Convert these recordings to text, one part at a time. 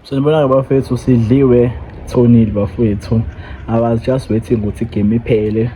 Sanibonani bafethu sidliwe thonile bafethu I was just waiting ukuthi game iphele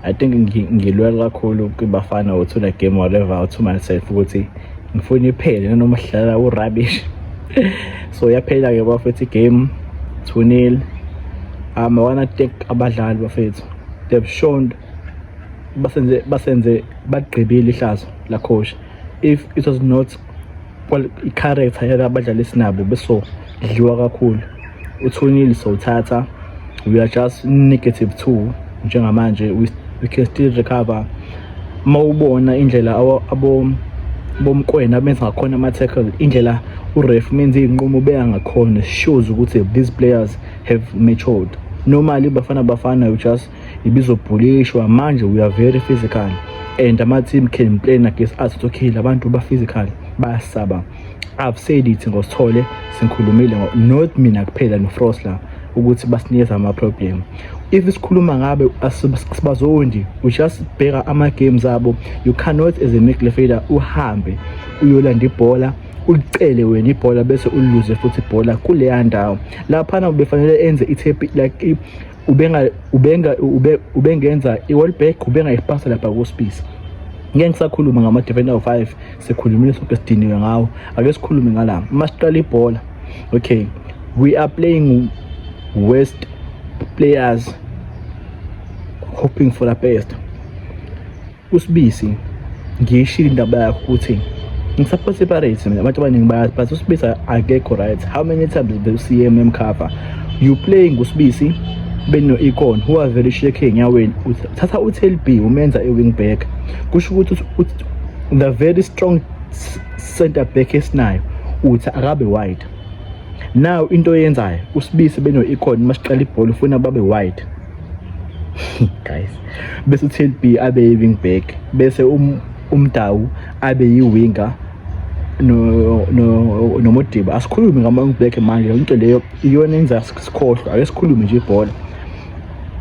I think ngilwela kakhulu kwibafana uthula game whatever uthi myself ukuthi ngifuna iphele nanoma sidlala urubbish so yaphela ke bafethu game 2-0 um I wanna thank abadlali bafethu they've shown basenze basenze bagqibile ihlazo la coach if it was not i-character yalabadlali esinabo besodliwa kakhulu uthunile sowuthatha we are just negative two njengamanje we, we can still recover uma ubona indlela abo bomkwena abenza ngakhona ama-tackle indlela uref menza iy'nqumo beyangakhona shows ukuthi these players have matured normally bafana bafana you just ibizobhulishwa manje we are very physical and ama-team can play against us it's okay labantu ba-physical bayasaba i've said it ngosithole singikhulumile not mina kuphela nofrost la ukuthi basinikeza ama-problem if sikhuluma ngabe sibazondi we just bheka ama-games abo you cannot as a midfielder uhambe uyolanda ibhola ulicele wena ibhola bese uliluze futhi ibhola kuleya ndawo laphana ubefanele enze i-tap like ubenga ubenga ube, ubengenza i-world back ubenga ipasa lapha kuspisa ngeke ngisakhuluma ngama-defender o-5 sikhulumile sonke sidiniwe ngawo ake sikhulume ngala uma siqala ibhola okay we are playing west players hoping for the best usibisi ngiyishilo indaba yakho ukuthi ngisupport separate mina abantu abaningi bayazi but usibisi akekho right how many times the cmm cover you playing usibisi beno-icon who are very shaky enyaweni thatha utlb umenza i-wing back kusho ukuthi the very strong center back esinayo uthi akabe wide now into oyenzayo usibisi beno-icon uma siqala ibhola ufuna babe wide guys bese uTLB abe yi-wing back bese um, umdawu abe yi-winger nomodiba asikhulume ngama-wing back manje into leyo iyona enza sikhohlwa ake sikhulume nje ibhola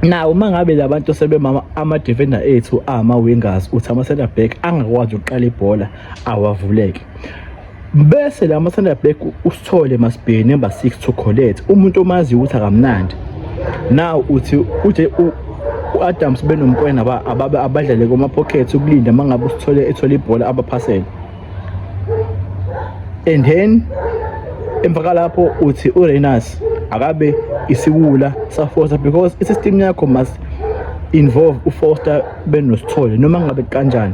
nawo uma ngabe labantu sebemama ama-defender ethu ama-wingers uthi ama-center back angakwazi ukuqala ibhola awavuleke bese la masanda black usithole masibheke number 6 to collect umuntu omazi ukuthi akamnandi now uthi uje u-adams benomkwena abadlale kuma-pocket ukulinda uma ngabe usithole ethola ibhola abaphasele and then emva kalapho uthi urenas akabe isiwula safosta because isystem yakho must involve ufoster benosithole noma ngabe kanjani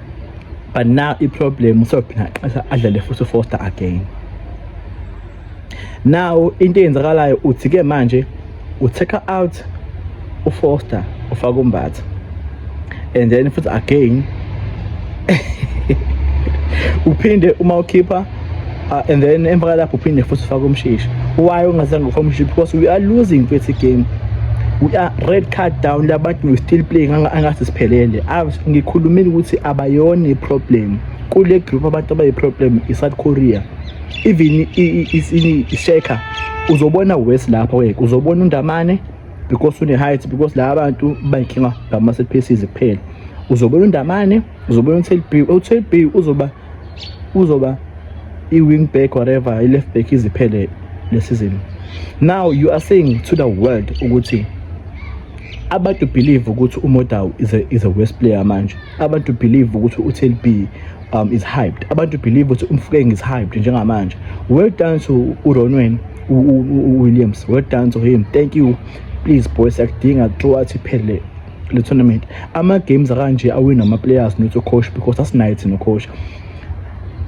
but now iproblem usophina xesha adlale futhi ufoster again now into eyenzakalayo uthi ke manje utheka out ufoster ufaka umbatha and then futhi again uphinde uma ukhipha Uh, and then emva kalapho uphinde futhi ufake umshishi why ungazange ufake umshishi because we are losing kwethu game we are red card down labantu we still playing angathi siphelele ngikhulumile ukuthi abayona iproblem kule group abantu abayiproblem i-south korea even i-shaker uzobona west lapho ke uzobona undamane because une-height because la bantu bayinkinga ngama-set pieces kuphela uzobona undamane uzobona u-telb u-telb uzoba uzoba i-wing back whatever i-left back iziphele le season now you are saying to the world ukuthi abantu believe ukuthi uModau is a, is a worst player manje abantu believe ukuthi uTLB um, is hyped abantu believe ukuthi umfukeng is hyped njengamanje well done to uronwen williams well done to him thank you please boys akudinga kuthiwa athi phele le tournament ama-games akanje awina ama-players not coach because asinaye thina coach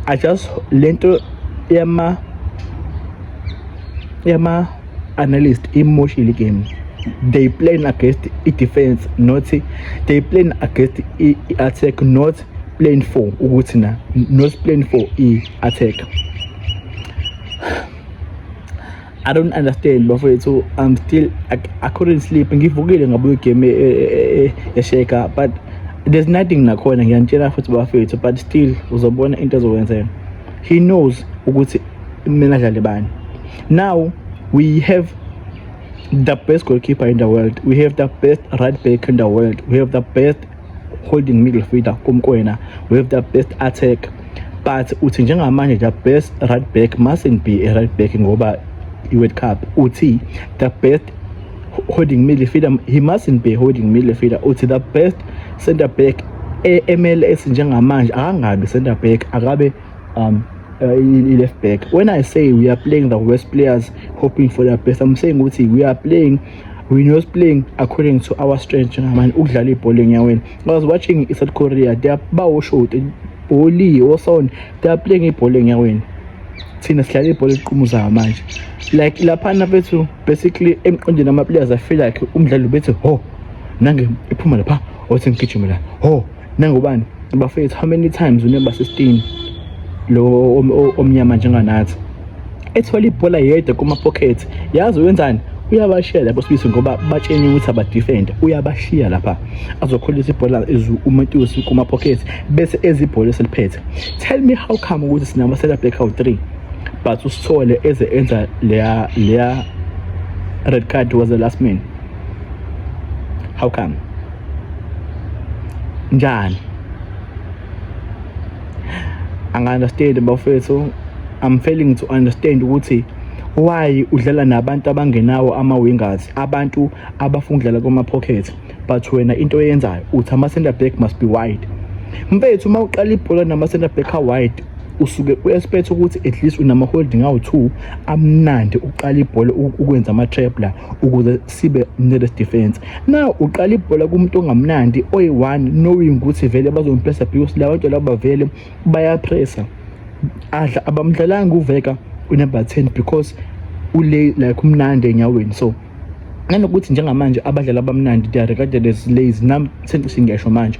i just le nto yama yama analyst imoshile igame they playing against i-defense not they playing against i-attack not playing for ukuthi na not playing for i-attack I don't understand bafowethu I'm still I, I couldn't sleep ngivukile ngabuye game eh, eh, eh, yasheka but there's nothing nakhona ngiyanitshela futhi bafowethu but still uzobona into ezokwenzeka he knows ukuthi kumele adlale bani now we have the best goalkeeper in the world we have the best right back in the world we have the best holding middle fielder kuMkwena with the best attack but uthi njengamanje the best right back mustn't be a right back ngoba i-World Cup uthi the best holding middle fielder he mustn't be holding middle fielder uthi the best center back e-MLS njengamanje akangabi center back akabe um uh, i-left back when i say we are playing the worst players hoping for the best i'm saying ukuthi we are playing we know playing according to our strength ngamani ukudlala ibhola enyaweni i was watching i-south korea they are bawoshoti bholi wosona they are playing ibhola enyaweni thina sidlala ibhola eliqumuzayo manje like laphana bethu basically emqondweni ama-players afeel like umdlalo bethu ho nange iphuma lapha othi ngigijime la ho nangubani bafethu how many times unemba sistini lo omnyama njenganathi ethola ibhola yedwa kuma pocket yazi wenzani uyabashiya lapho sibisi ngoba batsheni ukuthi abadefend uyabashiya lapha azokhulisa ibhola izu uMatusi kuma pocket bese ezibhola eseliphethe tell me how come ukuthi sinama set up out 3 but usithole eze enza leya leya red card was the last man how come njani anga-understand bafethu i'm failing to understand ukuthi why udlala nabantu abangenawo ama-wingers abantu abafuna ukudlala kuma-pocket but wena into oyenzayo uthi ama-center back must be wide mfethu uma uqala ibhola nama-center back a-wide usuke u-expect ukuthi at least unama-holding awu-two amnandi uqala ibhola ukwenza ama-trap la ukuze sibe nele defense now uqala ibhola kumuntu ongamnandi oyi-one knowing ukuthi vele bazompressa because la bantu laba vele bayapressa adla abamdlalanga uveka unumber 10 because ule like umnandi enyaweni so nanokuthi njengamanje abadlali abamnandi they are regarded as lazy nam sengithi ngiyasho manje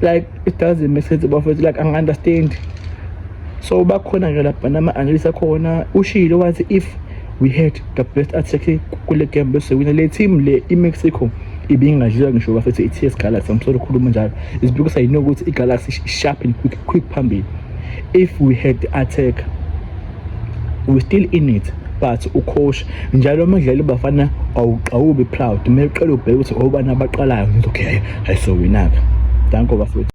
like it doesn't make sense bafethu like angi-understand so bakhona ke lapha nama-analyst akhona ushile wathi if we had the best attack kule game bese wina le team le i-mexico ibingadliwa ngisho bafethu i-ts galaxy angisole ukhuluma njalo is because i know ukuthi i-galaxy sharp and quick, quick phambili if we had the attack we still in it but ucoach njalo umdlali bafana awuqawubi proud uma uqela ubheke ukuthi obani abaqalayo ngithi okay ayisowinaka danko bafethu